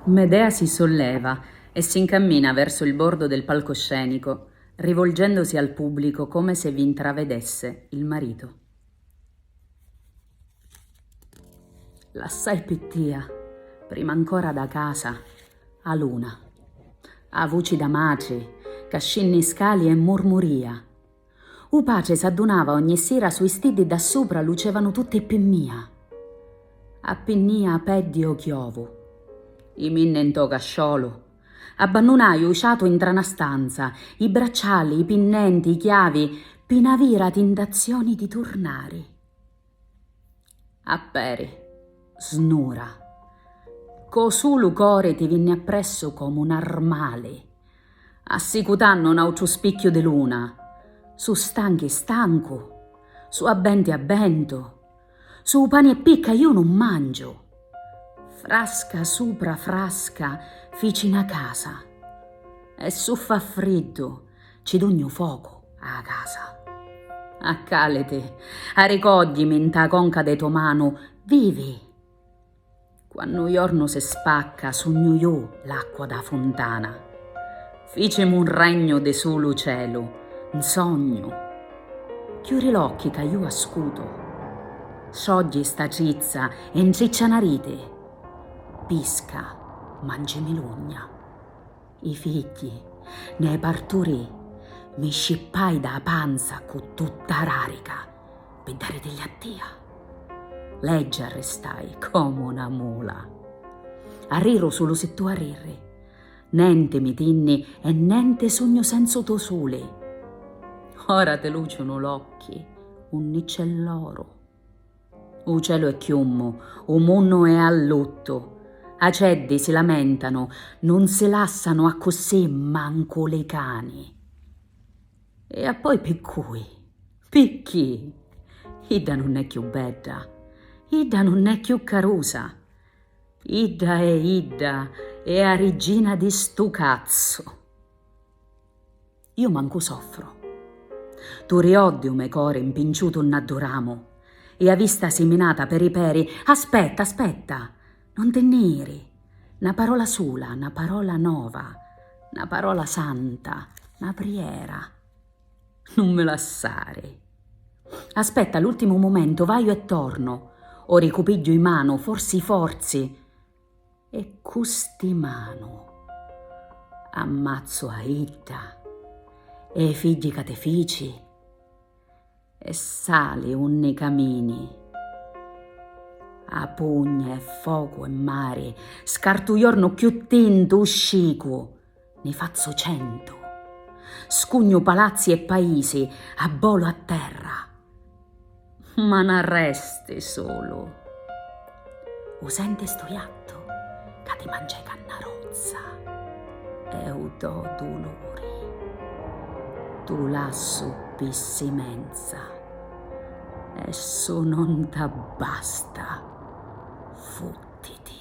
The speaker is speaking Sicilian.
Medea si solleva e si 'ncammina verso il bordo del palcoscenico, rivolgendosi al pubblico come se vi 'ntravedesse il marito. Lassai pi tia, prima ancora da casa, 'a luna. 'a vuci da matri ca scinni scali e murmuria. U patri s'addunava ogni sira sui stiddi dda supra lucevanu tutti pi mia. Appinnìa a peddi o chiovu. I minni ntô casciolu. Abbannunai u ciatu intra na stanza, i bracciali, i pinnenti, i chiavi, pi na vira tintazioni di turnari. A peri. Snura. Co sulu cori ti vinni appressu comu n'armali. Assicutannu n'autru spicchiu di luna. Su' stanchi stancu. Su' abbenti abbentu. Su' pani e picca iu nun mangiu. Frasca supra frasca fici na casa. E su' fa friddu. Ci dugnu focu a 'a casa. Accàliti, aricògghimi 'nta 'a conca de to manu, vivi! Quannu 'u jornu si spacca sugnu ju l'acqua d' 'a funtana. Ficimu un regnu di sulu celu, 'n sognu. Chiuri l'occhi ca ju ascutu. Sciogghi 'sta trizza e 'ntriccia 'na riti. Pisca, mangi milugna. i figghji, nè parturì, mi scippai dâ panza cu tutta rarica pi daritilli a tia. Leggi arristai comu na mula. Arriru sulu si tu arrirri. Nenti mi tinni e nenti sugnu senzu to suli. Ora ti luciunu l'occhi unni c'è l'oru. U celu è chiummu, u munnu è a luttu. Aceddi si lamentanu, nun si lassanu accussì mancu li cani. E appoi pi cui? Picchì? Idda nun è chiù bedda, idda nun è chiù carusa. Idda è idda, è a riggina di stu cazzu. Iu mancu soffru. Tu rioddi u me cori 'mpinciutu nna ddu ramu, i a vista siminata peri peri, aspetta, aspetta, non ti nni iri, na parola sula, na parola nova, na parola santa, na priera, nun mi lassari. Aspetta l'ultimu mumentu, vaiu e tornu, ori cu pigghiu i manu, forsi, forzi, E cu sti manu ammazzu a idda e i figghi ca ti fici e sali unni camini a pugna e focu e mari scartu jornu cchiù tintu u scicu ne fazzu centu. Scugnu palazzi e paisi, abbolu a terra. Ma n'arresti sulu. U senti stu iattu ca ti mangeca nna rozza e u do duluri. Tu lassu pi simenza e su non t'abbasta, futtiti.